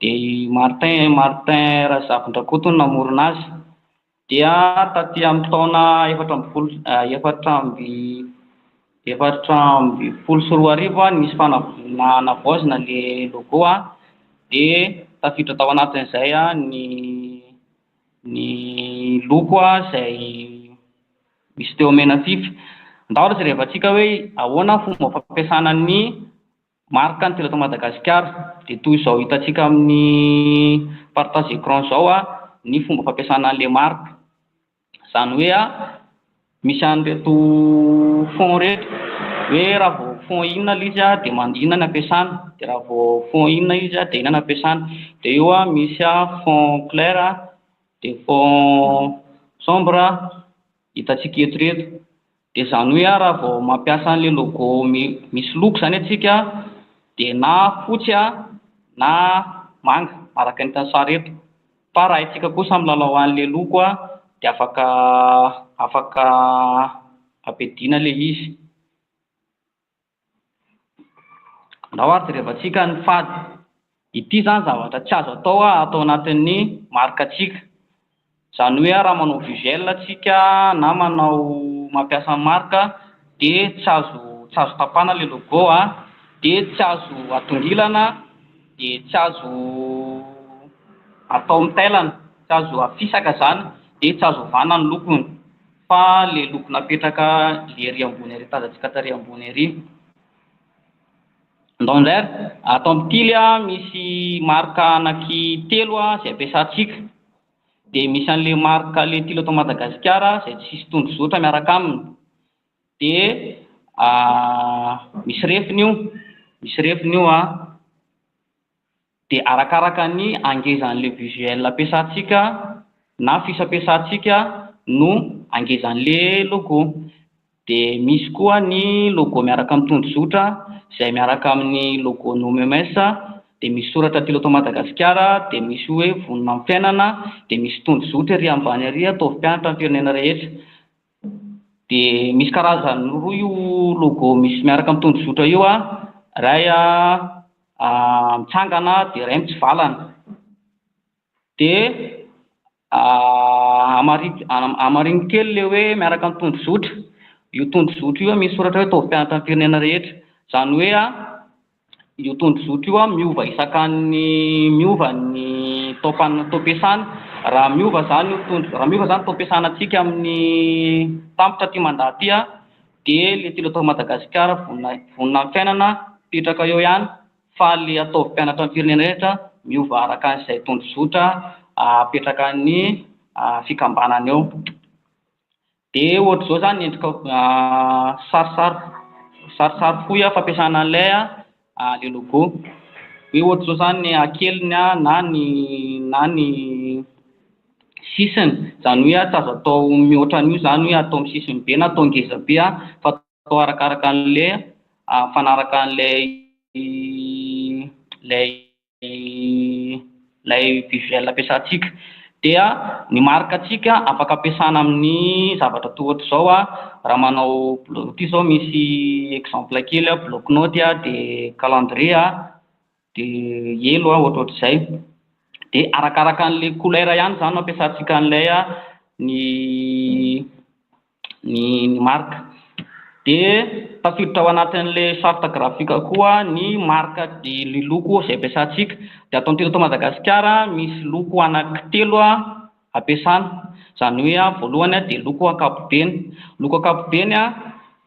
Dia i Martin Martin Razafindrakoto no namorona azy. Dia taty amin'ny taona efatra ambin'ny folo efatra amby efatra ambin'ny folo sy roa arivo no nisy fanavaozana navaozina ilay logo a, dia tafiditra tao anatin'izay a ny ny loko a izay misy teo menafify. Ndao ry zareo hirehafa antsika hoe ahoana ny fomba fampiasana ny Maro ka ny teratany Madagasikara, dia toy izao hitantsika amin'ny partage écran izao ny fomba fampiasana an'ilay marika, izany hoe misy an'ireto fonds ireto, hoe raha vao fonds inona ilay izy dia man- inona no ampiasana, dia raha vao fonds inona ilay izy dia inona no ampiasana, dia eo misy fonds clair dia fonds sombre hitantsika eto ireto. Dia izany hoe a raha vao mampiasa an'ilay logo misy loko izany antsika a dia na fotsy a na manga araka ny hitan'ny sary eto fa raha isika kosa milalao an'ilay loko a dia afaka afaka ampiadiana ilay izy. Andao ary jerevantsika ny fady. Ity izany zavatra tsy azo atao ato anatin'ny marika-tsika. Izany hoe raha manao visuel isika na manao mampiasa ny marika dia tsy azo tsy azo tapahana ilay logo dia tsy azo atongilana dia tsy azo atao mitailana, tsy azo afisaka izany dia tsy azo ovana ny lokony. Fa le loko napetraka le ery ambony ery tazantsika tary ambony ery Ndonder ato amin'ny tily a misy marque anaky telo a zay ampiasantsika de misy anle marque le tily eto Madagasikara zay tsisy tondro zotra miaraka aminy de misy refiny io misy refiny io a. dia arakaraka ny hangezan'ilay visuel ampiasantsika na fiche ampiasantsika no hangezan'ilay logo. Dia misy koa ny logo miaraka amin'ny tondrozotra izay miaraka amin'ny logon'ny OMMS, dia misy soratra aty loto Madagasikara, dia misy hoe vonona amin'ny fiainana, dia misy tondrozotra ery ambany ery ataovy mpianatra ny firenena rehetra. dia misy karazany roa io logo misy miaraka amin'ny tondrozotra io an, iray an mitsangana dia iray mitsivalana, dia hamarino kely ilay hoe miaraka amin'ny tondrozotra, io tondrozotra io misy soratra hoe ataovy mpianatra ny firenena rehetra, izany hoe an. Io tondrozotra io miova isakan'ny miova ny taom-pan- taom-piasana. Raha miova izany io tondro- raha miova izany ny taom-piasanantsika amin'ny tampitra aty mandà aty an, dia ilay tilo eto Madagasikara vonona- vonona amin'ny fiainana hipetraka eo ihany, fa ilay ataovy mpianatra ny firenena rehetra miova araka izay tondrozotra apetrakan'ny fikambanana eo. De ohatry zao zany ny endrikao sarisary sarisary fohy a fampiasana an'ilay a le logo hoe ohatry zao zany ny hakeliny a na ny na ny sisiny zany hoe a tsy azo atao mihoatra an'io zany hoe atao amin'ny sisiny be na atao ngeza be a fa atao arakaraka an'le mifanaraka an'ilay lay. ilay visuel ampiasantsika dia ny marque ntsika afaka ampiasana amin'ny zavatra toa ohatr'izao a raha manao blo- ity izao misy exemple kely a bloc note a de calendrier a de elo a ohatrohatr'izay de arakaraka an'le couleur ihany zany no ampiasantsika an'ilay a ny ny ny marika. Dia tafiditra ao anatin'ilay charte graphique koa ny marika de ny loko izay ampiasantsika. Dia ato an-teto Madagasikara misy loko anankitelo ampiasana, izany hoe a voalohany a dia loko ankapobeny. Loko ankapobeny a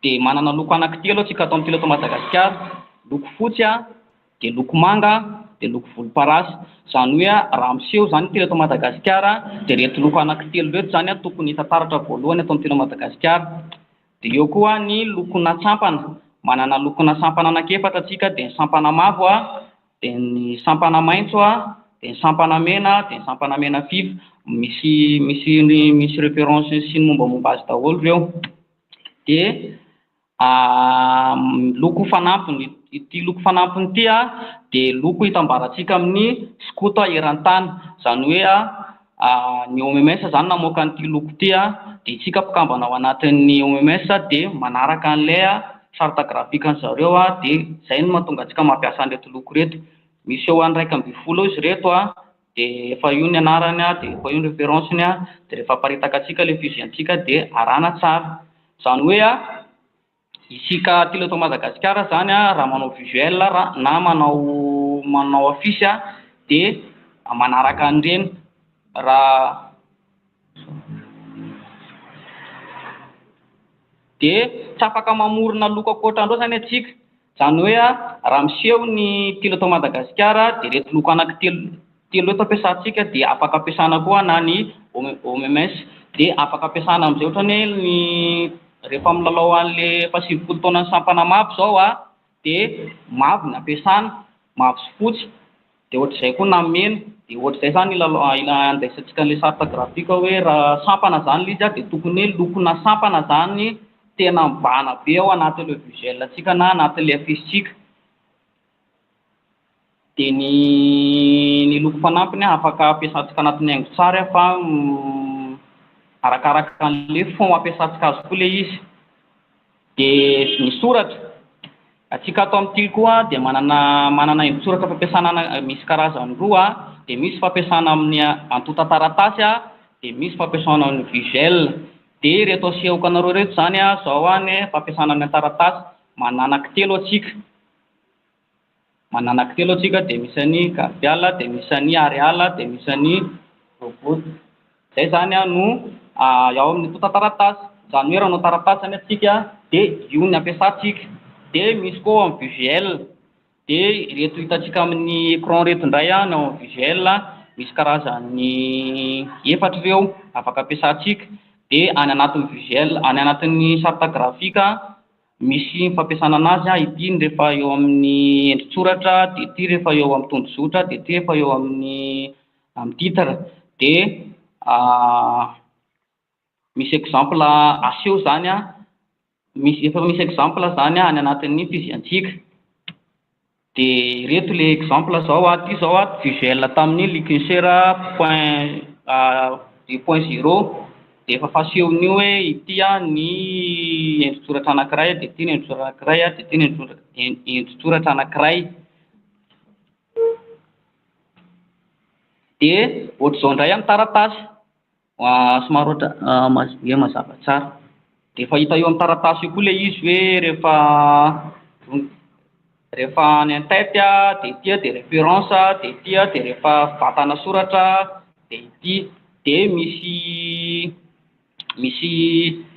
dia manana loko anankitelo antsika ato an-teto Madagasikara, loko fotsy a. dia loko manga, dia loko volomparasy. Izany hoe raha miseho izany intelo eto Madagasikara dia ireto loko anankitelo ireto izany no tokony hita taratra voalohany eto an-tena Madagasikara. Dia eo koa ny lokona sampana. Manana lokona sampana anankiefatra isika dia ny sampana mavo, dia ny sampana maitso, dia ny sampana mena, dia ny sampana mena fify. Misy misy ny misy référence sy ny mombamomba azy daholo ireo. Dia. A, Loko fanampiny, ity loko fanampiny ity dia loko itambarantsika amin'ny skoto eran-tany. Izany hoe ny OMMS izany namoaka an'ity loko ity dia isika mpikambana ao anatin'ny OMMS dia manaraka an'ilay charte graphique an'i zareo dia izay no mahatonga antsika mampiasa an'ireto loko ireto. Miseho an'ny iraika ambin'ny folo eo izy ireto a. dia efa io ny anarany an, dia efa io ny référence-ny an, dia rehefa aparitaka antsika ilay fusil antsika dia arahana tsara, izany hoe an, isika aty eto Madagasikara izany an, raha manao visuel raha na manao manao affiche an, dia manaraka an'ireny raha, dia tsy afaka mamorona loko ankoatra an'ireo izany antsika. Izany hoe raha miseho ny telo eto Madagasikara dia ireto loko anaky telo telo ireto ampiasantsika dia afaka ampiasana koa na ny OMS dia afaka ampiasana amin'izay ohatran'ny hoe ny rehefa milalao an'le efa sivifolo taonan'ny sampana mavo izao dia mavo no ampiasana, mavo sy fotsy. Dia ohatr'izay koa nameno, dia ohatr'izay zany ilalao andraisantsika an'ilay charte graphique hoe raha sampana zany ilay izy a dia tokony hoe lokona sampana zany tena mibahana be ao anatin'ilay visuel antsika na anatin'ilay affiche-tsika. Dia ny ny loko fanampiny a afaka ampiasantsika anatin'ny haingon-tsary a fa arakaraka an'ilay fond ampiasantsika azy koa ilay izy. Dia ny soratra. Antsika ato amin'ny tily koa dia manana manana endri-tsoratra fampiasana ana misy karazany roa, dia misy fampiasana amin'ny antontan-taratasy dia misy fampiasana amin'ny visuel. Dia ireto asehoko anareo ireto izany izao ny fampiasana ny an-taratasy, manana ankin-telo antsika. manana kitelo antsika dia misy an'i gardiala dia misy an'i areala dia misy an'i robot zay zany a no ao amin'ny tonta taratasy zany hoe raha hanao taratasy zany antsika dia io no ampiasantsika dia misy koa ao amin'ny visuel dia ireto hitantsika amin'ny écran ireto indray a ny ao amin'ny visuel misy karazany efatra ireo afaka ampiasantsika dia any anatin'ny visuel any anatin'ny charte graphique Misy fampiasana anazy an, ity ny rehefa eo amin'ny endri-tsoratra, dia ity rehefa eo amin'ny tondrozotra, dia ity rehefa eo amin'ny amin'ny titre, dia misy exemple aseho izany an, misy efa misy exemple izany any anatin'ny fizihantsikka. De ireto le exemple zao a, ty zao a visuel tamin'ny liquincer point deux point zero de efa fasehon'io hoe ity a ny endri-tsoratra anankiray de ty ny endri-tsoratra anankiray a de ty ny endri-tsoratra en- endri-tsoratra anankiray de ohatr'izao indray a ny taratasy. Somary ohatra dia mazava tsara. Dia efa hita eo amin'ny taratasy eo koa ilay izy hoe rehefa vonona rehefa any en tête dia ity dia référence dia ity dia rehefa vatana soratra dia ity. Dia misy misy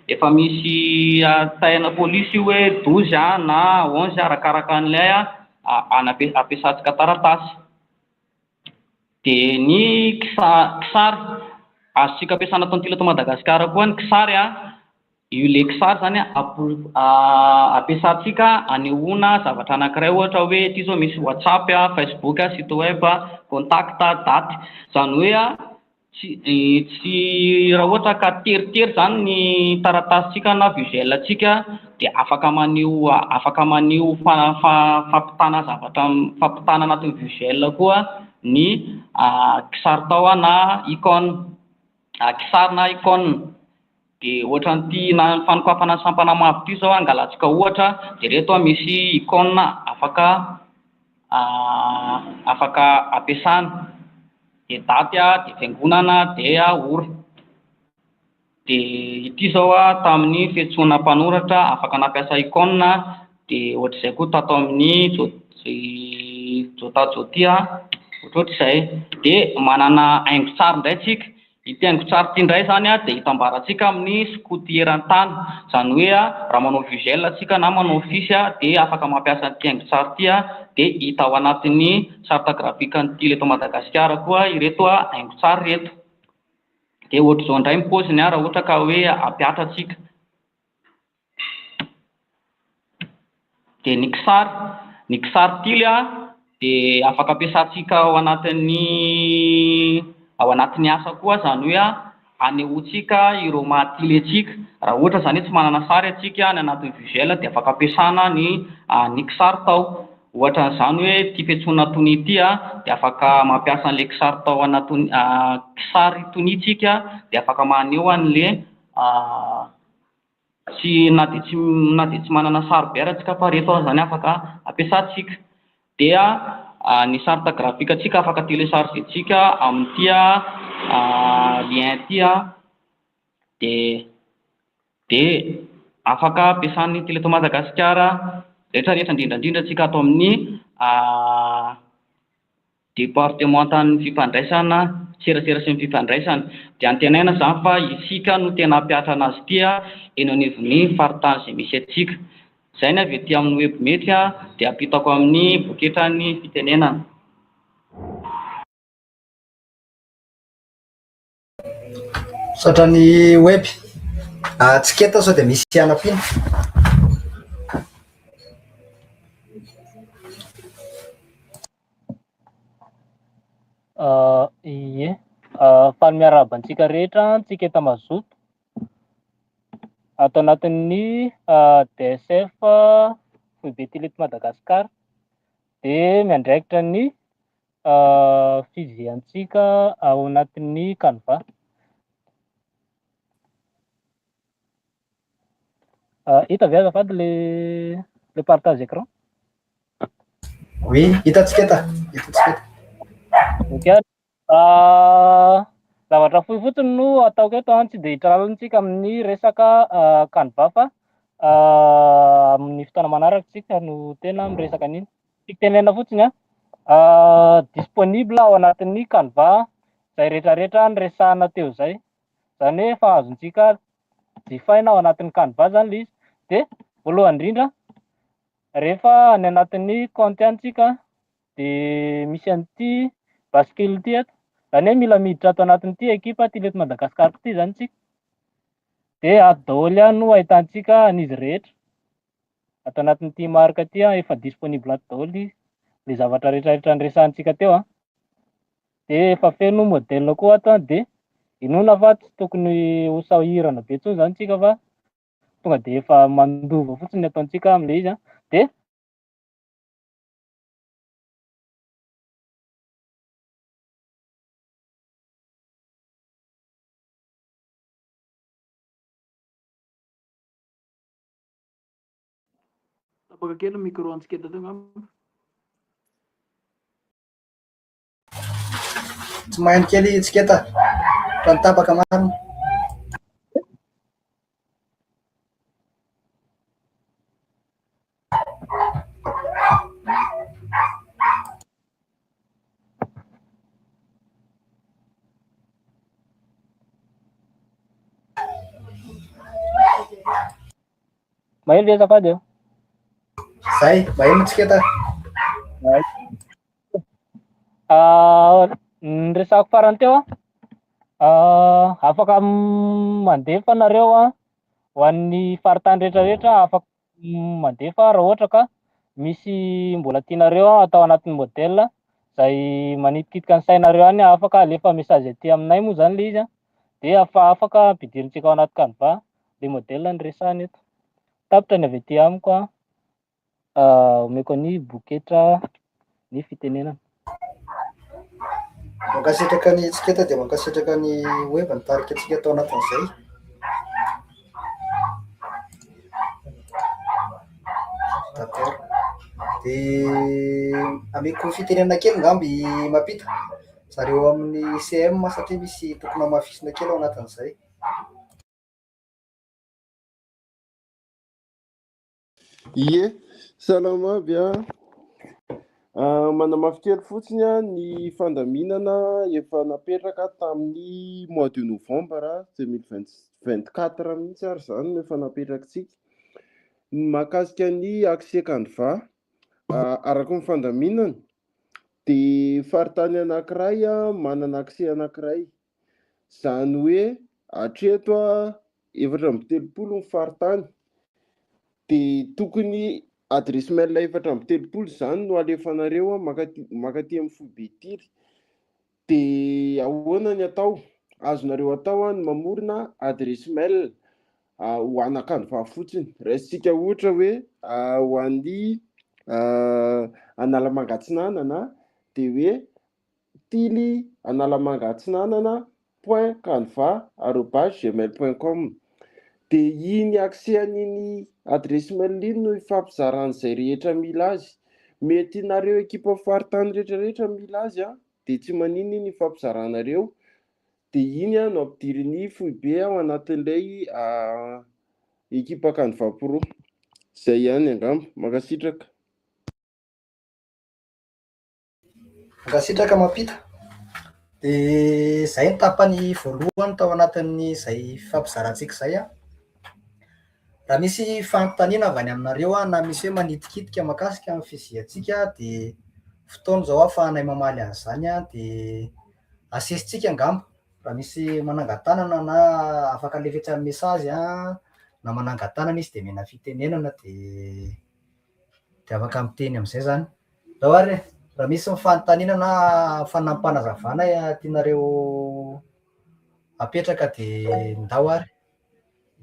efa misy hahatsaraina polisy io hoe douze a na onze arakaraka an'ilay a- ampiasantsika taratasy. Dia ny kisary, azontsika ampiasana tontolo eto Madagasikara koa ny kisary a, io le kisary zany a ampiasantsika anehoana zavatra anankiray ohatra hoe ity zao misy WhatsApp a, Facebook a, site web a, contact a, date, zany hoe a. Tsy, tsy, raha ohatra ka teritery izany ny taratasintsika na visuel-ntsika dia afaka maneho, afaka maneho fa, fa, fampitana zavatra, fampitana anatin'ny visuel koa ny kisaritao na icône, kisary na icône. Dia ohatran'ity fanokafana ny sampana mavo ity izao angalatsika ohatra, dia ireto misy icône afaka afaka ampiasana, dia daty a, dia fiangonana, dia ora. Dia ity izao tamin'ny fiantsoana mpanoratra afaka nampiasa icône, dia ohatr'izay koa tato amin'ny jo i jota jotia, ohatrohatrizay. Dia manana haingon-tsary indray isika. Ity haingon-tsary ity indray izany dia hitambarantsika amin'ny skoto eran-tany. Izany hoe raha manao visuel isika na manao affiche dia afaka mampiasa an'ity haingon-tsary ity dia hita ao anatin'ny charte graphique an'ny tily eto Madagasikara koa ireto haingon-tsary ireto. Dia ohatr'izao indray ny paoziny raha ohatra ka hoe hampihatra isika. Dia ny kisary, ny kisary tily dia afaka ampiasantsika ao anatin'ny ao anatin'ny asa koa izany hoe hanehoantsika ireo maha tily antsika. Raha ohatra izany hoe tsy manana sary isika any anatin'ny visuel dia afaka ampiasana ny ny kisary tao. Ohatra an'izany hoe ity fiantsoana tonia ity dia afaka mampiasa an'ilay kisary tao anatin'ny kisary tonia isika dia afaka maneho an'ilay sy na dia tsy na dia tsy manana sarobidy ara tsika fa reto azany afaka ampiasantsika dia ny charte graphique antsika afaka telecharger tsika amin'ity lien ity dia dia afaka ampiasan'ny tele tao Madagasikara rehetra rehetra indrindra indrindra antsika ato amin'ny Departemantan'ny fifandraisana, serasera sy ny fifandraisana. Dia antenaina izany fa isika no tena hampihatra anazy ity eny anivon'ny faritany izay misy antsika. Izay ny avy ety amin'ny webmety dia ampitako amin'ny poketran'ny fitenenana. Misaotra ny web. Atsika eto sao dia misy hianam-piana. Ie. Faly miarahaba antsika rehetra antsika eto Mazoto. Ato anatin'ny DSF Foibe Tele eto Madagasikara dia miandraikitra ny fividiantsika ao anatin'ny Canva. Hita ve azafady le le partage écran? Oui, hitantsika eto. Hitantsika eto. Ok. Ah, zavatra fohy fotsiny no ataoko eto an, tsy dia hitralantsika amin'ny resaka Canva fa amin'ny fotoana manaraka tsika no tena miresaka an'iny. Tiako tenenina fotsiny an, disponible ao anatin'ny Canva izay rehetra rehetra niresahana teo izay, izany hoe efa azontsika jifaina ao anatin'ny Canva izany ilay izy, dia voalohany indrindra rehefa any anatin'ny kaonty any tsika dia misy an'ity bascule ity eto, izany hoe mila miditra ato anatin'ity ekipa Tily eto Madagascar ity izany isika, dia ato daholo ihany no ahitantsika an'izy rehetra. ato anatin'ity marika ity an, efa disponible ato daholo izy, le zavatra rehetrarehetra niresahantsika teo an, de efa feno modèle koa ato an, de inoana fa tsy tokony ho sahirana be intsony zany tsika fa tonga de efa mandova fotsiny ny ataontsika amle izy an, de Tapaka kely ny micro antsika teto angamba. Tsy maheno kely tsiketa fa ny tapaka marina. Maheno ve azafady eo? Zay, maheno tsika ta. Ah, ny resako farany teo an. Ah, afaka mandefa nareo an ho an'ny faritany rehetra rehetra afaka mandefa raha ohatra ka misy mbola tianareo atao anatin'ny modèle izay manitikitika ny sainareo any afaka alefa message aty aminay moa izany ilay izy a dia afa afaka ampidirintsika ao anaty canva ilay modèle ny resahana eto tapitra ny avy aty amiko a omeko an'i boketra ny fitenenana. Mankasitraka ny etiketa dia mankasitraka ny web nitarika antsika tao anatin'izay. D'accord. Dia ameko fitenenana kely ngamby mapita zareo amin'ny CM satria misy tokony hamafisina kely ao anatin'izay. Ie, salama aby a. Ah, manamafy kely fotsiny a, ny fandaminana efa napetraka tamin'ny mois de novembre 2024 mihitsy ary izany no efa napetrakitsika. Ny mahakasika ny accès Canva, ah, araka ny fandaminana dia faritany anankiray a, manana accès anankiray. Izany hoe hatreto efatra amby telopolo ny faritany dia tokony adresse mail efatra amby telopolo izany no alefanareo makaty makaty amin'ny foibe ity dia ahoana ny atao azonareo atao any mamorona adresse mail ho anakandrovaha fotsiny raisitsika ohatra hoe ho an'ny analamangatsinanana dia hoe Tily Analamanga Atsinanana point canva arobase gmail point com dia iny accès an'iny adresse mail iny no ifampizarany izay rehetra mila azy mety nareo ekipa faritany rehetra rehetra mila azy an dia tsy maninona iny ifampizaranareo dia iny an no ampidirin'ny foibe ao anatin'ilay ekipa canva pro izay ihany angamba mankasitraka Mankasitraka mampita. Dia izay ny tapany voalohany tao anatin'izay fifampizarantsika izay. Raha misy fanontaniana avy any aminareo na misy hoe manitikitika mahakasika ny fiziantsika dia fotoana izao ahafahanay mamaly an'izany dia asian-tsika angamba raha misy manangan-tanana na afaka alefetsany message na manangan-tanana izy dia omena fitenenana dia. dia afaka miteny amin'izay zany. Zao ary e, raha misy ny fanontaniana na fanampanazavana tianareo apetraka dia ndao ary.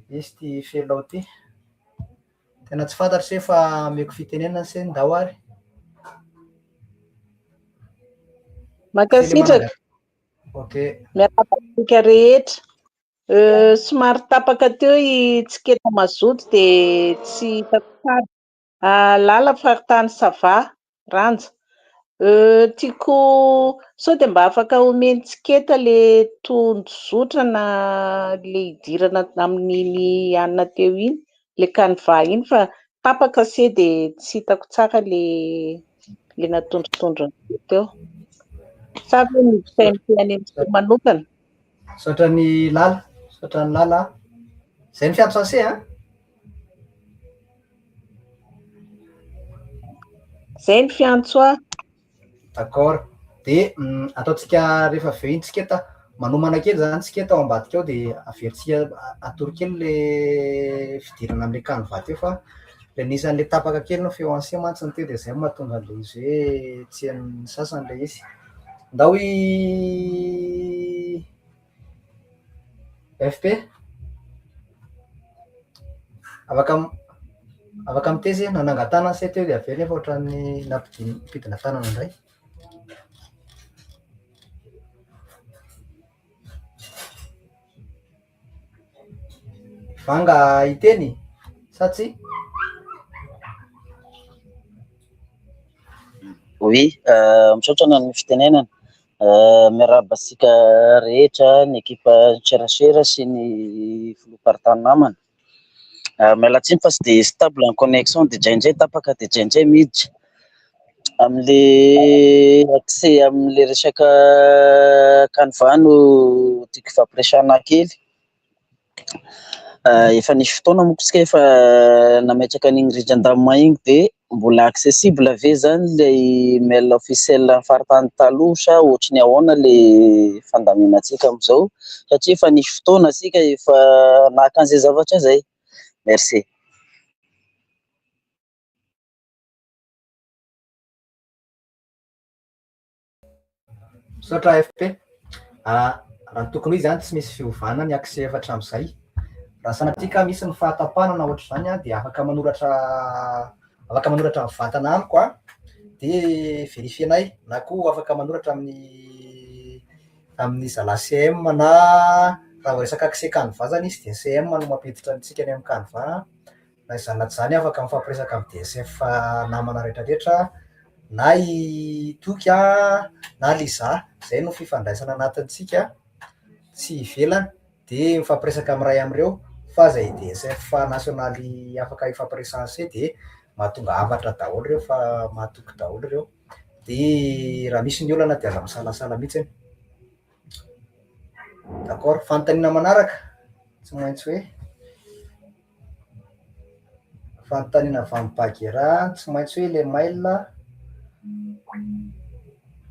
Misy ty felao ty. Tena tsy fantatro se fa ameko fitenenana se ndao ary. Mankasitraka. Ok. Miarahaba antsika rehetra. Somary tapaka teo i Tsiketa mazoto dia tsy hitako tsara. Lala faritany ça va? Ranja. Tiako sao dia mba afaka omen'i Tsiketa ilay tondrozotra na ilay hidirana amin'iny hanina teo iny, ilay canva iny fa tapaka se dia tsy hitako tsara ilay natondrotondron'ireo teo. Sa ve miditra eo amin'ny fiainan'ireo manokana? Misaotra an'i Lala, misaotra an'i Lala. Izay ny fiantrance an? Izay ny fiantso ahy. D'accord. Dia mm, ataontsika rehefa avy eo iny tsika ta manomana kely zany tsika tao ambadika ao dia averintsika a- atoro kely le fidirana amin'ilay canevas teo fa le nisy an'ilay tapaka kely ny feo ancien mantsy ny teo dia izay no mahatonga an'ilay izy hoe tsy an'ny sasany ilay izy. Ndao i FP e! Afaka m- afaka mitaiza ianao, nanangan-tanana say teo dia avy eo nefa ohatran'ny nampidi- nampidina tanana indray. Banga hiteny sa tsia? Oui, misaotra ny amin'ny fitenenana. Miarahaba antsika rehetra ny ekipa serasera sy ny filoham-paritany namana. Miala tsiny fa tsy dia stable ny connexion dia indraindray tapaka dia indraindray miditra. Amin'le accès amin'le resaka canva no tiako hifampiresahana kely, efa nisy fotoana monko tsika efa nametraka an'iny rindran-damina iny de mbola accessible ve zany le mail officiel an'ny faritany taloha sa ohatry ny ahoana le fandaminantsika amzao satria efa nisy fotoana isika efa naka an'izay zavatra izay, merci. Misaotra AFP. Ah, raha ny tokony izany tsy misy fiovana ny accès efa hatramin'izay. Raha sanatria ka misy ny fahatapahana na ohatr'izany dia afaka manoratra afaka manoratra ny vatana amiko a dia verifienay na koa afaka manoratra amin'ny amin'ny zalahy CM na raha vao resaka accès canva zany izy dia CM no mampiditra antsika any amin'ny canva na izany na izany afaka mifampiresaka amin'ny DSF fa namana retraretra na i Toky a na Liza zay no fifandraisana anatintsika tsy ivelany de mifampiresaka amin'ny ray amin'ireo fa zay DSF nasionaly afaka hifampiresahana se de mahatonga hafatra daholo ireo fa mahatoky daholo ireo de raha misy ny olana de aza misalasala mihitsy anie d'accord fanontaniana manaraka tsy maintsy hoe Fanontaniana avy amin'i Bagheera, tsy maintsy hoe ilay mail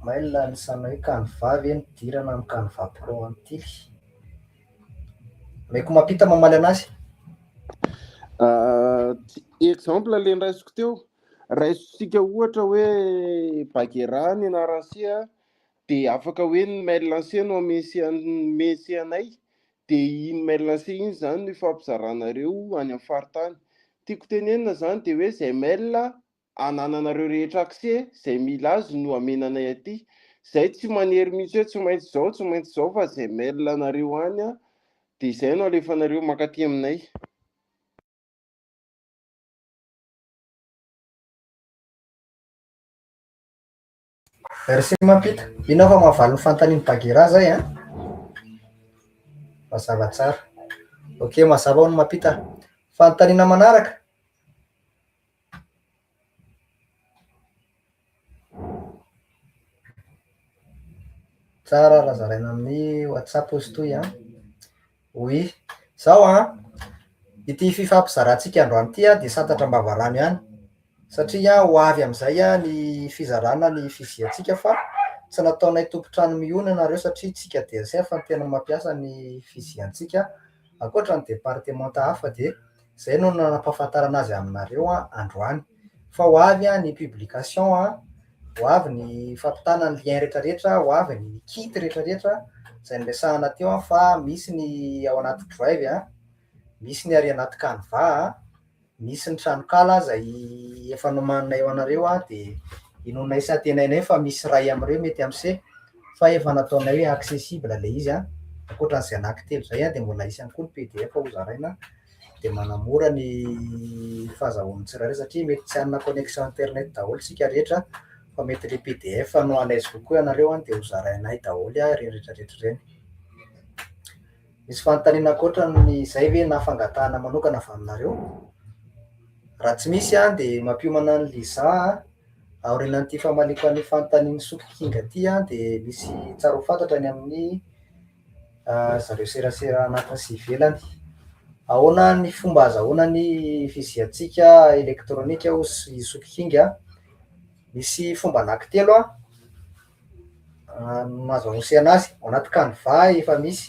mail anisan'ny hoe canva ve no idirana amin'ny canva pro an'itily? Omeko mampita mamaly anazy. Exemple ilay niraisiko teo, raisitsika ohatra hoe Bagheera ny anaran'ny siha dia afaka hoe ny mail lancé no amese anay dia iny mail lancé iny izany no ifampizaranareo any amin'ny faritany. Tiako tenenina izany dia hoe izay mail anananareo rehetra accès, izay mila azy no amena anay aty. Izay tsy manery mihitsy hoe tsy maintsy izao, tsy maintsy izao fa izay mail anareo any dia izay no alefanareo mankaty aminay. Merci Mampita. Inona fa mahavaly ny fanontanian'i Bagheera zay an? Mazava tsara. Ok, mazava hono Mampita. Fanontaniana manaraka. Tsara raha zaraina amin'ny WhatsApp hozy toy an. Oui. Izao an, ity fifampizarantsika androany ity dia santatra am-bavarano ihany, satria ho avy amin'izay ny fizarana ny fividiantsika fa tsy nataonay tompon-trano mihona ianareo satria isika DSF no tena mampiasa ny fividiantsika, ankoatra ny departemanta hafa dia izay no nanampahafantarana azy aminareo androany. fa ho avy ny publication a, ho avy ny fampitana ny lien retraretra, ho avy ny kit retraretra izay niresahana teo fa misy ny ao anaty drive a, misy ny ary anaty canva a, misy ny tranokala izay efa nomaninay ho anareo a, dia inoanay sy antenainay fa misy iray amin'ireo mety hampiseho fa efa nataonay hoe accessible ilay izy a, ankoatra an'izay anaky telo izay a dia mbola hisy ihany koa ny pdf hozaraina. dia manamora ny fahazahoan'ny tsirairay satria mety tsy hanana connexion internet daholo isika rehetra fa mety ilay pdf no à l'aise kokoa ianareo any dia hozarainay daholo ireny rehetra rehetra ireny. Misy fanontaniana ankoatran'izay ve na fangatahana manokana avy aminareo? Raha tsy misy dia mampiomana an'i Liza an, aorianan'ity famaliako an'io fanontanian'i Soky King ity dia misy tsara ho fantatra ny amin'ny. zareo serasera anatiny sy ivelany. Ahoana ny fomba azahoana ny fiziantsika elektronika hoy i Sokikinga? Misy fomba anankitelo no azo anosehana azy, ao anaty canva efa misy,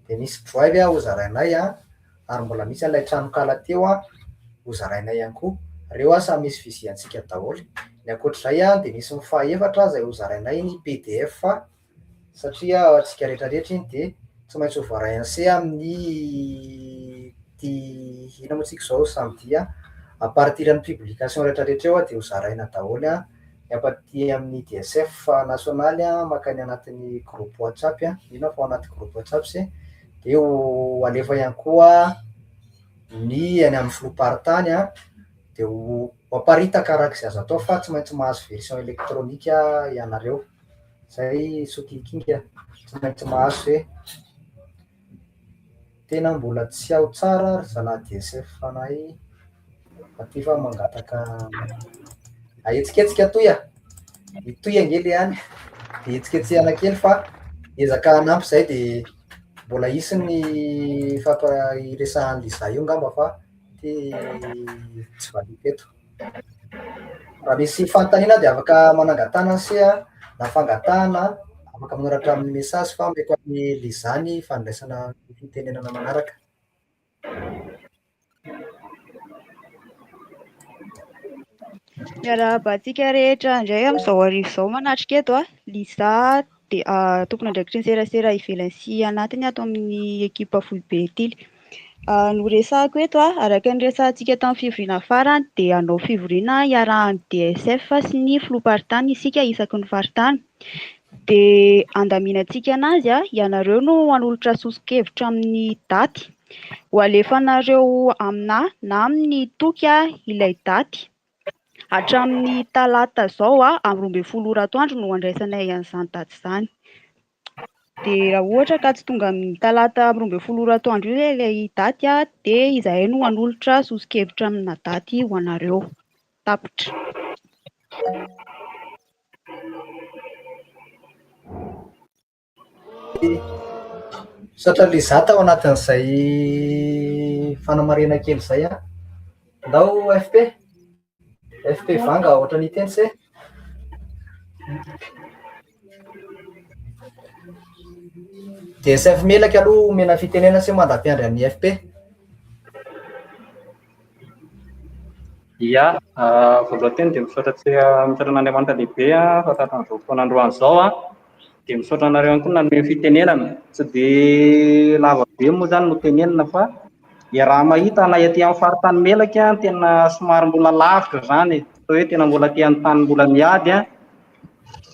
dia misy drive hozarainay an, ary mbola misy an'ilay tranonkala teo hozarainay ihany koa. Ireo samy misy fiziantsika daholo. Ny ankoatr'izay dia misy ny fahefatra izay hozarainay ny pdf. satria ao antsika rehetra rehetra iny dia tsy maintsy ho voaray anse amin'ny ty inona moa tsika izao samy dia à partir ny publication rehetra rehetra eo dia ho zaraina daholo an, ny apa aty amin'ny DSF nationaly an makany anatin'ny groupe WhatsApp an, mino aho fa ao anaty groupe WhatsApp se, dia ho alefa ihany koa ny any amin'ny filoham-paritany an, dia ho aparitaka araka izay azo atao fa tsy maintsy mahazo version électronique ianareo. Zay sokikinga tsy maintsy mahazo e. Tena mbola tsy ao tsara ry zalahy DSF fanahy aty fa mangataka ahetsiketsika toy a. I toy ange le any de hetsiketsehana kely fa ezaka hanampy zay de mbola hisy ny fampa- hiresahan'l'izaho io ngamba fa ty tsy valiako eto. Raha misy fanontaniana dia afaka manangatana ny seha na fangatahana, afaka manoratra amin'ny message fa mety amin'ny Liza ny fandraisana ny fitenenana manaraka. Miarahaba antsika rehetra indray amin'izao hariva izao manatrika eto a! Liza dia tompon'andraikitry ny serasera ivelany sy anatiny ato amin'ny ekipa foibe tily. Noresahako eto, araka ny resahantsika tamin'ny fivoriana farany, dia hanao fivoriana iarahan'ny DSF sy ny filoham-paritany isika isaky ny faritany. Dia handaminantsika an'azy, ianareo no hanolotra soso-kevitra amin'ny daty. Ho alefanareo aminà na amin'ny toky ilay daty. Hatramin'ny talata izao amin'ny roa ambin'ny folo ora atoandro no handraisanay an'izany daty izany. Dia raha ohatra ka tsy tonga amin'ny talata amin'ny roa ambin'ny folo ora atoandro io ilay daty dia izahay no hanolotra soso-kevitra amina daty ho anareo tapitra. Misaotra an'ilay za tao anatin'izay fanamarihana kely izay an. Ndao FP. FP Vanga ohatrany hiteny se. DSF Melaky aloha omena fitenenana se mandra-piandry an'i FP. Ia, voaloha teny dia misaotra tsy misaotra an'Andriamanitra lehibe aho fa tahaka an'izao fotoana androany izao an, dia misaotra anareo ihany koa nanome fitenenana, tsy dia lava be moa izany no tenenina fa iaraha mahita na ety amin'ny faritany melaky an, tena somary mbola lavitra izany e, toa hoe tena mbola aty amin'ny tany mbola miady an,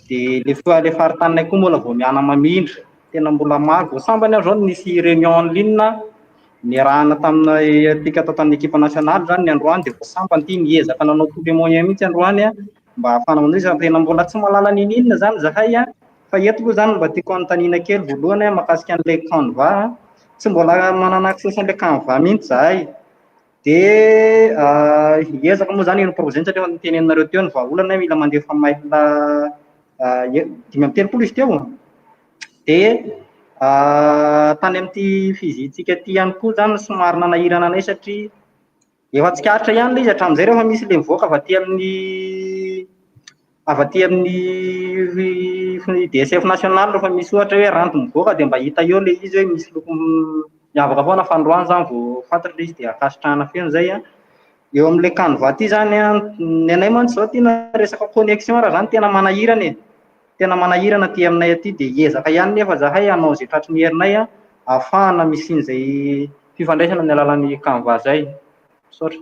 dia ilay faritany koa mbola vao miana-mamindra. Tena mbola maro vao sambany aho zao no nisy réunion en ligne niarahana tamintsika tao tamin'ny ekipa nationale zany ny androany dia vao sambany ity niezaka nanao tous les moyens mihitsy androany mba hahafana manao izany tena mbola tsy mahalala niniana zany zahay an fa eto aloha zany mba tiako anontaniana kely voalohany an makasika an'ilay canva an tsy mbola manana access an'ilay canva mihitsy zahay Dia hiezaka moa izany ny projet-ntsika teo niteny anareo teo ny vahaolana hoe mila mandefa mail dimy amby telopolo izy teo. Dia tany amin'ity fizin-tsika ity ihany koa izany somary nanahirana anay satria efa tsikaritra ihany ilay izy hatramin'izay rehefa misy ilay mivoaka avy aty amin'ny avy aty amin'ny DSF national rehefa misy ohatra hoe ranty mivoaka dia mba hita eo ilay izy hoe misy loko miavaka foana fa androany izany vao fantatra ilay izy dia ankasitrahana feno izay an, eo amin'ilay canva ity izany an, ny anay mantsy izao aty na resaka connexion ary izany tena manahirana e, tena manahirana aty aminay aty dia hiezaka ihany nefa izahay hanao izay tratry ny herinay an, ahafahana misian'izay fifandraisana amin'ny alalan'ny canva izay, misaotra.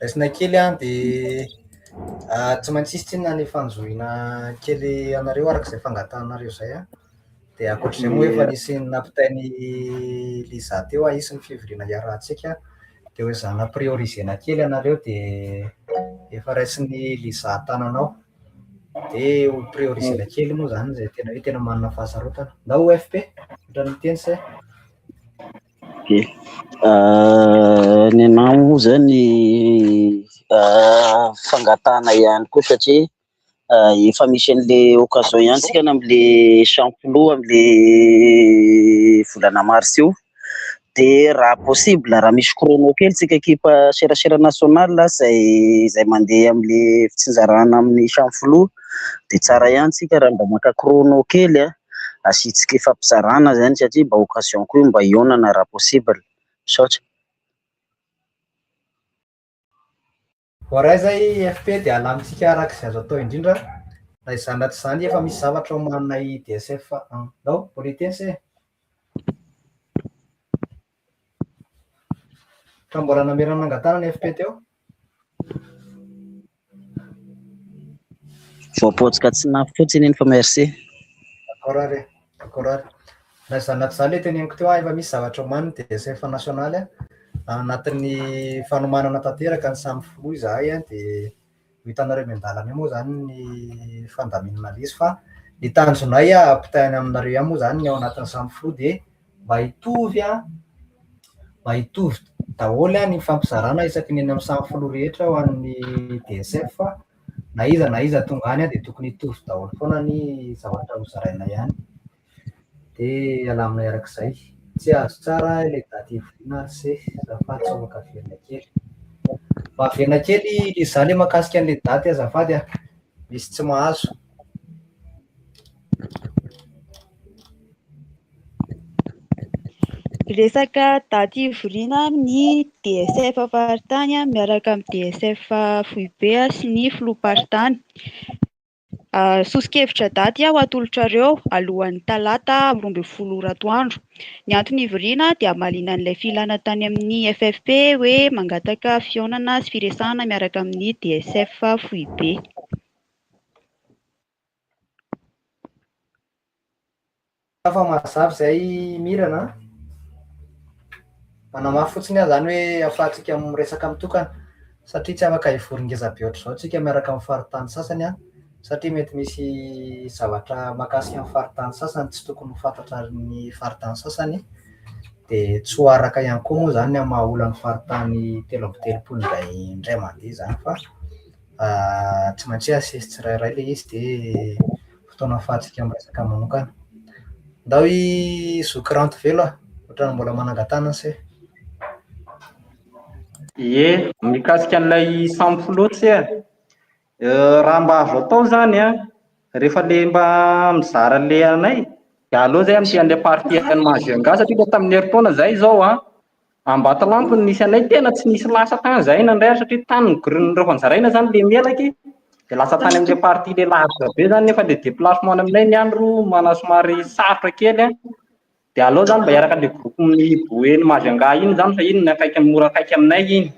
Raisina kely an, dia tsy maintsy hisy tsinona ny fanjohiana kely anareo araka izay fangatahanareo izay an, dia ankoatr'izay moa efa nisy nampitain'i Liza teo an, hisy ny fivoriana hiarahantsika dia ho ezaha namprioriser-na kely anareo dia efa raisin'i Liza an-tanana ao, dia ho prioriser-na kely moa izany izay tena hoe tena manana fahasarotana, na OFP? Ohatran'ny miteny say. Okey. Ny anah moa zany fangatahana ihany koa satria efa misy an'le occasion ihany tsika am'le cent kilos am'le volana mars io, de raha possible raha misy chrono kely tsika ekipa serasera national zay zay mandeha am'le fitsinjarana amin'ny cent kilos de tsara ihany tsika raha mba maka chrono kely a. asiantsika hifampizarana izany satria mba occasion koa io mba hihaonana raha possible. Misaotra. Voaray izay FP dia alamintsika araka izay azo atao indrindra na izany na tsy izany efa misy zavatra ao amanay DSF an. Nao, politesse e! Ka mbola namela nangatahana ny FP teo? Voapotsika tsy nafy fotsiny iny fa merci. D'accord ary e, d'accord ary. Na izany na tsy izany ilay teneniko teo an, efa misy zavatra omaniny dia efa nationaly an, anatin'ny fanomanana tanteraka ny samy filoha izahay an, dia. ho hitanareo eny an-dalana eny moa izany ny fandaminana lesy fa ny tanjonay hampitahay any aminareo ihany moa izany ny ao anatin'ny samy filoha dia mba hitovy an, mba hitovy daholo ny fifampizarana isaky ny eny amin'ny samy filoha rehetra ho an'ny DSF fa na iza na iza tonga any dia tokony hitovy daholo foana ny zavatra hozarainay any. Dia alamina arak'izay. Tsy azo tsara ilay daty hivoriana ry se, azafady sao maka velona kely. Mba averina kely ilay izaho ilay mahakasika an'ilay daty azafady a, misy tsy mahazo. Resaka daty hivoriana amin'ny DSF faritany miaraka amin'ny DSF foibe sy ny filoham-paritany. Soso-kevitra daty aho atolotrareo alohan'ny talata roa ambin'ny folo ora atoandro. Ny antony hivoriana dia hamaliana an'ilay filana tany amin'ny FFP hoe mangataka fihaonana sy firesahana miaraka amin'ny DSF foibe. Sa fa mazava izay Mirana a? Manamafy fotsiny aho izany hoe afahantsika miresaka mitokana satria tsy afaka hivory ngeza be ohatr'izao tsika miaraka amin'ny faritany sasany an, satria mety misy zavatra makasika ny faritany sasany tsy tokony ho fantatra ny faritany sasany dia tsy ho araka ihany koa moa izany ny amin'ny maha olon'ny faritany telo amby telopolo indray indray mandeha izany fa tsy maintsy hoe asesy tsirairay ilay izy dia fotoana fahantsika miresaka manokana. Ndao i zoky Rantovelo a! Ohatrany mbola manangan-tanana se. Ie, mikasika an'ilay sampy loha tse a! Raha mba azo atao izany an, rehefa le mba mizara le anay, dia aleo izay amin'ity an'ilay partie an'i Mahajeunes gasy satria ilay tamin'ny herintaona izay izao an, Ambatolampy no nisy anay, tena tsy nisy lasa tany izahay nandray azy satria tany nigorian'ireo fanjaraina izany ilay melaky, dia lasa tany amin'ilay partie ilay lavitra be izany nefa ilay déplacement any aminay ny andro manana somary sarotra kely an, dia aleo izany mba hiaraka amin'ilay groupe mihiboho eny Majunga iny izany fa iny ny akaiky mora akaiky aminay iny.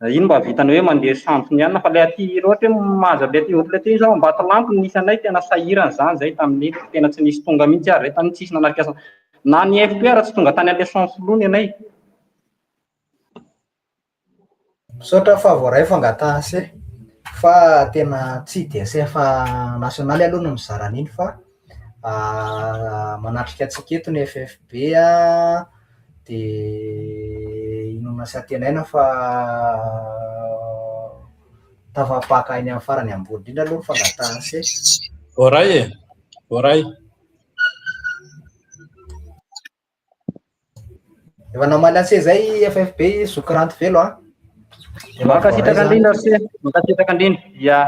Iny mba vitany hoe mandeha sampy ny alina fa ilay aty hira ohatra hoe mahazo an'ilay aty groupe aty izao Ambatolampy no nisy anay tena sahirana izany izay tamin'iny fa tena tsy nisy tonga mihitsy ary izay tamin'iny tsisy nanatrika sampy na ny FPR tsy tonga tany an'ilay sampy loha ny anay. Misaotra fa voaray fangataha se fa tena tsy DSF nationaly aloha no mizara an'iny fa manatrika antsika eto ny FFB dia inoana sy antenaina fa tafapaka eny amin'ny farany ambony indrindra aloha ny fangatahan'ny se. Voaray e, voaray. Efa namaly anse zay FFB zoky ranty velo a. Dia mankasitraka andrindra anse. Mankasitraka andrindra. Ya.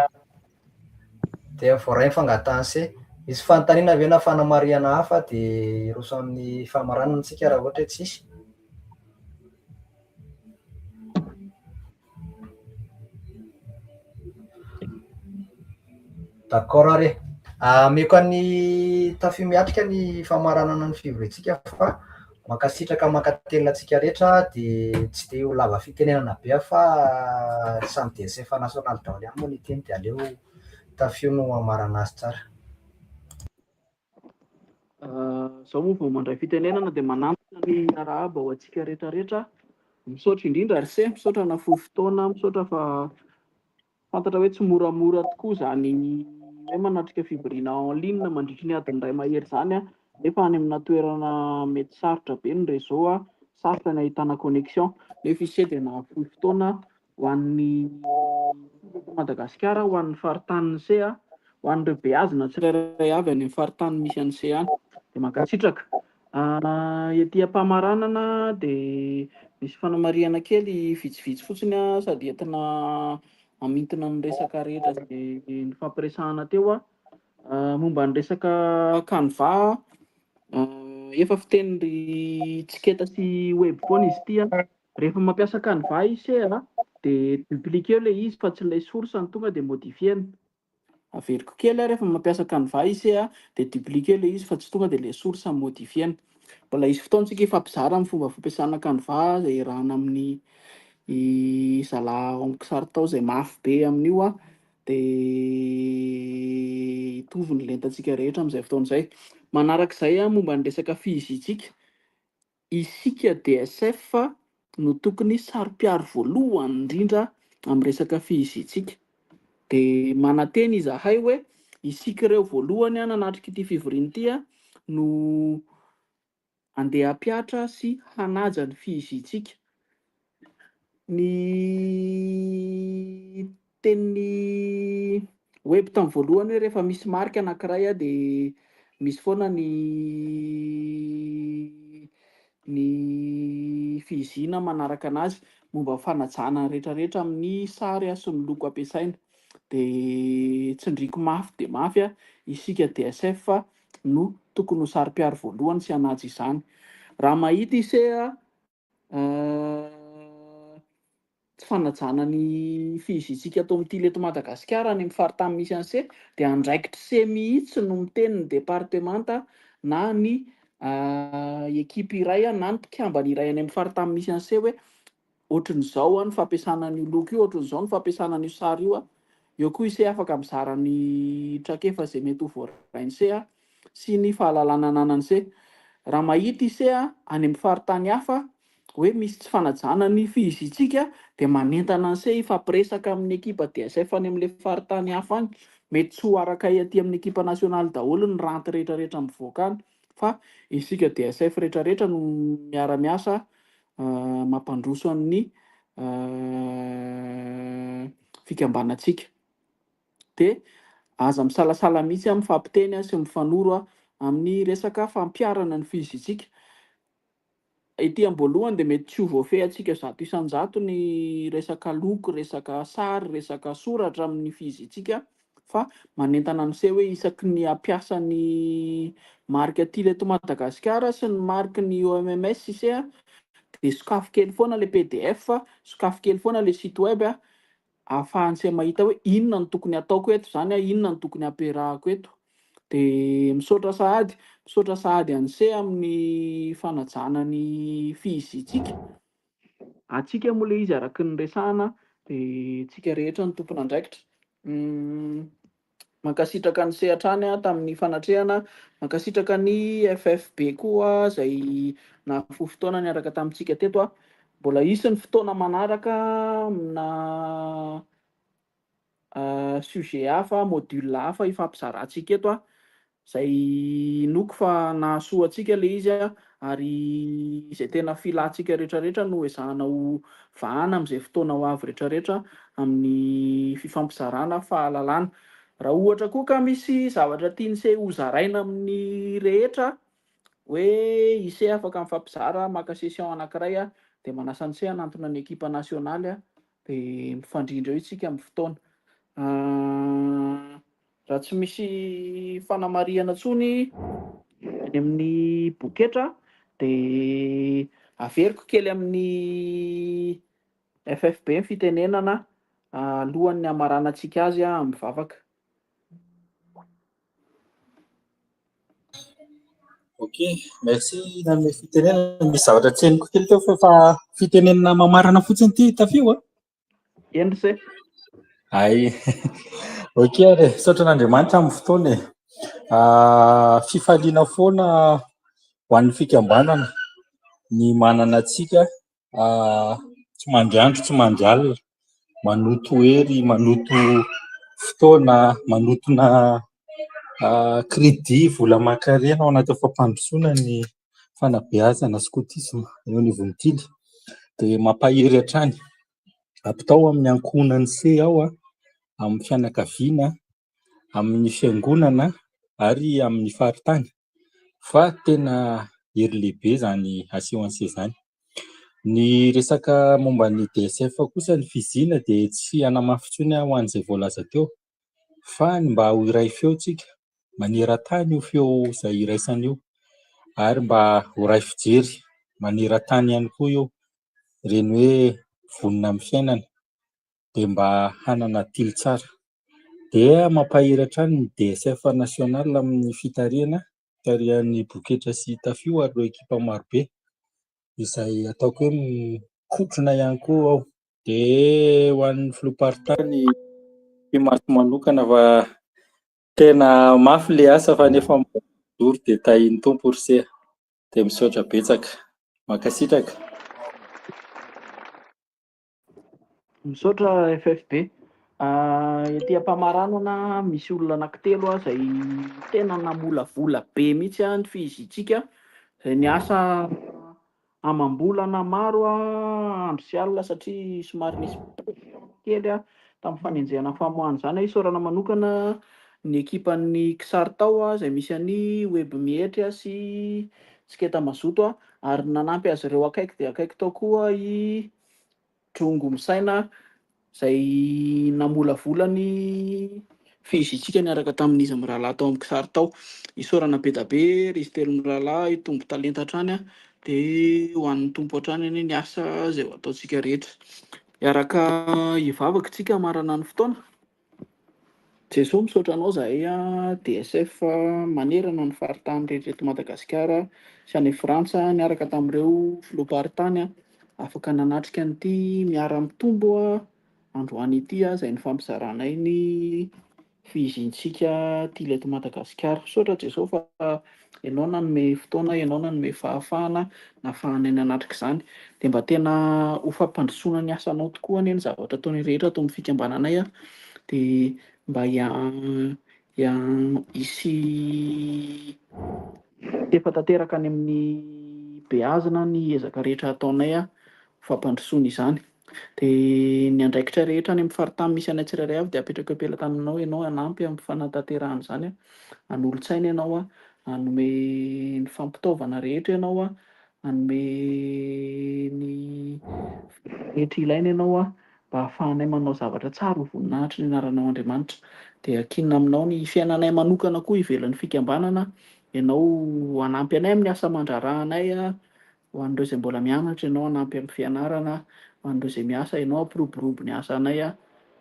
Dia voaray fangataha anse. Misy fanontaniana ve na fanamarihana hafa dia hiroso amin'ny famaranana antsika raha ohatra hoe tsisy. D'accord ary e. Ameko an'i Tafiomiatrika ny famaranana ny fivoriantsika fa mankasitraka mankatelina antsika rehetra dia tsy dia ho lava fitenenana be aho fa samy DSF nationale daholo ihany moa ny teny dia aleo Tafio no hamarana azy tsara. Izaho moa vao mandray fitenenana dia manantona ny arahaba ho antsika rehetra rehetra. Misaotra indrindra RC, misaotra nahafoy fotoana, misaotra fa fantatra hoe tsy moramora tokoa izany hoe manatrika fivoriana en ligne mandritry ny adiny iray mahery izany nefa any amina toerana mety sarotra be ny réseau, sarotra ny ahitana connexion. Nefa ise dia nahafoy fotoana ho an'ny folo eto Madagasikara, ho an'ny faritanin'i Sea, ho an'ireo beazina tsirairay avy any amin'ny faritany misy an'i Sea any. Dia mankasitraka. Ety am-pamaranana dia misy fanamarihana kely vitsivitsy fotsiny sady entina hamintina ny resaka rehetra izay nifampiresahana teo. Momba ny resaka canva, efa fiteny ry Tsiketa sy Webphone izy ity. Rehefa mampiasa canva i Sea de dupliquer-o le izy fa tsy ilay source no tonga de modifier-na. Averiko kely a, rehefa mampiasa canva i Sea de dupliquer-o le izy fa tsy tonga de ilay source no modifier-na. Mbola hisy fotoantsika hifampizara amin'ny fomba fampiasana canva zay iarahana amin'ny zalahy ao amin'ny kisary tao zay mafy be amin'io a, de hitovy ny lentantsika rehetra amin'izay fotoana izay. Manarak'izay a, momba ny resaka fihizitsika, Isika DSF no tokony saro-piaro voalohany indrindra amin'ny resaka fihizitsika. Dia manantena izahay hoe isika ireo voalohany hanatrika ity fivoriana ity no handeha hampihatra sy hanaja ny fihizitsika. ny tenin'ny web tamin'ny voalohany hoe rehefa misy marika anankiray a de misy foana ny ny fihizina manaraka anazy momba ny fanajana ny rehetrarehetra amin'ny sary a sy ny loko ampiasaina de tsindriko mafy de mafy a isika DSF no tokony ho saro-piaro voalohany sy hanaja izany raha mahita ise a Tsy fanajana ny fihizitsika atao mitily eto Madagasikara any amin'ny faritany misy an'i se dia andraikitr'i se mihitsy no miteny ny departemanta na ny ekipa iray na ny mpikambana iray any amin'ny faritany misy an'i se hoe ohatrin'izao ny fampiasana an'io loko io, ohatrin'izao ny fampiasana an'io sary io. Eo koa i se afaka mizara ny traikefa izay mety ho voarain'i se. sy ny fahalalana ananan'i se. Raha mahita i se any amin'ny faritany hafa hoe misy tsy fanajana ny fihizintsika dia manentana an'i se hifampiresaka amin'ny ekipa DSF any amin'ilay faritany hafa any. Mety tsy ho araka aty amin'ny ekipa nasionaly daholo ny ranty rehetrarehetra mivoaka any fa isika DSF rehetrarehetra no miara-miasa mampandroso an'ny fikambanantsika. de aza misalasala mihitsy an mifampiteny sy mifanoro an amin'ny resaka fampiharana ny fizitsika, ety am-boalohany de mety tsy ho voafehy antsika zato isan-jato ny resaka loko, resaka sary, resaka soratra amin'ny fizitsika fa manentana an'se hoe isaky ny hampiasa ny marika tily eto Madagasikara sy ny mariky ny OMMS ise an de sokafy kely foana le pdf, sokafy kely foana le site web an, ahafahantsika mahita hoe inona no tokony hataoko eto zany a, inona no tokony hampiarahako eto. De misaotra sahady, misaotra sahady an'ise amin'ny fanajana ny fihiziantsika. Antsika moa le izy araky ny resahana de tsika rehetra ny tompon'andraikitra. Mankasitraka an'i Sea hatrany tamin'ny fanatrehana, mankasitraka ny FFB koa izay nahafoy fotoana niaraka tamintsika teto. Mbola hisy ny fotoana manaraka amina sujet hafa, module hafa hifampizarantsika eto. Izay inoako fa nahasoa antsika ilay izy ary izay tena filantsika rehetrarehetra no ezahana ho vahana amin'izay fotoana ho avy rehetrarehetra amin'ny fifampizarana fahalalana. Raha ohatra koa ka misy zavatra tian'ise hozaraina amin'ny rehetra hoe ise afaka mifampizara maka session anankiray aho dia manasa an'ise hanantona ny ekipa nasionaly aho dia mifandrindra eo isika amin'ny fotoana. Raha tsy misy fanamarihana intsony any amin'ny boketra dia averiko kely amin'ny FFB ny fitenenana alohan'ny hamaranantsika azy amin'ny vavaka. Ok, merci nanome fitenenana. Misy zavatra tsy henoko kely teo fa efa fitenenana mamarana fotsiny ity tafio a. Endry se. Ay. Ok ary, saotra an'Andriamanitra amin'ny fotoana e. Ah, fifaliana foana ho an'ny fikambanana ny manana antsika ah, tsy mandry andro tsy mandry alina manoto hery, manoto fotoana, manotona ah, crédit, vola aman-karena ao anatin'ny fampandrosoana ny fanabeazana skotisma eo anivon'ny tily dia mampahery hatrany. Ampitao amin'ny ankohonan'ny se ao, amin'ny fianakaviana, amin'ny fiangonana ary amin'ny faritany fa tena hery lehibe izany aseho an'ny se izany. Ny resaka momba ny DSF kosa ny fizina dia tsy hanamafy intsony ho an'izay voalaza teo fa ny mba ho iray feo tsika maneran-tany io feo izay iraisana io ary mba ho iray fijery maneran-tany ihany koa io ireny hoe vonona amin'ny fiainana dia mba hanana tily tsara dia mampahery hatrany ny DSF national amin'ny fitarihana tarihan'ny boketra sy tafio ary ireo ekipa marobe izay ataoko hoe mikotrona ihany koa aho Dia ho an'ny filoham-paritany Fimarco manokana fa tena mafy ilay asa fa nefa mbola mijoro dia tahian'ny Tompo ry se. Dia misaotra betsaka. Mankasitraka. Misaotra FFB. Ety am-pamaranana misy olona anankitelo izay tena namolavola be mihitsy ny fiziantsika izay niasa Amam-bolana maro aho andro sy alina satria somary nisy pression kely tamin'ny fanenjehana ny famoahana izany aho. Isaorana manokana ny ekipan'ny Ksartao izay misy an'i Webmietry sy Tsiketa Mazoto ary ny nanampy azy ireo akaiky dia akaiky tao koa i Drongo misaina izay namolavola ny fihezintsika niaraka tamin'iza mirahalahy tao amin'ny kisary tao. Isaorana be da be ry izy telo mirahalahy, hitombo talenta hatrany a! dia ho an'ny Tompo hatrany anie ny asa izay ho ataontsika rehetra. Hiaraka hivavaka isika hamarana ny fotoana. Jesoa misaotra anao zahay a DSF manerana ny faritany rehetra eto Madagasikara sy any Frantsa niaraka tamin'ireo filoham-paritany a afaka nanatrika an'ity miara mitombo a androany ity a izay nifampizaranay ny fihizin-tsika tily eto Madagasikara misaotra Jesoa fa Ianao nanome fotoana, Ianao nanome fahafahana, nahafahana ny hanatrika izany. Dia mba tena ho fampandrosoana ny asanao tokoa anie ny zavatra ataonay rehetra ato amin'ny fikambananay an, dia mba hisy tefa tanteraka any amin'ny beazina ny ezaka rehetra ataonay ho fampandrosoana izany. Dia ny andraikitra rehetra any amin'ny faritany misy anay tsirairay avy dia apetrako am-pelatany aminao ianao hanampy amin'ny fanatanterahana izany. Hanolo-tsaina ianao aho. Hanome ny fampitaovana rehetra ianao aho. Hanome ny fitaovana rehetra ilaina ianao aho, mba hahafahanay manao zavatra tsara ho voninahitry ny anaranao Andriamanitra. Dia ankinina aminao ny fiainanay manokana koa ivelan'ny fikambanana aho. Ianao hanampy anay amin'ny asa aman-draharahanay. Ho an'ireo izay mbola mianatra ianao hanampy amin'ny fianarana, ho an'ireo izay miasa ianao hampiroborobo ny asanay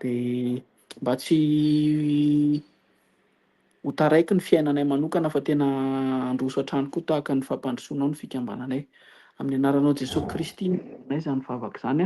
dia mba tsy ho taraiky ny fiainanay manokana fa tena handroso hatrany koa tahaka ny fampandrosoanao ny fikambananay. Amin'ny anaranao Jesoa Kristy no anaovana izany vavaka izany.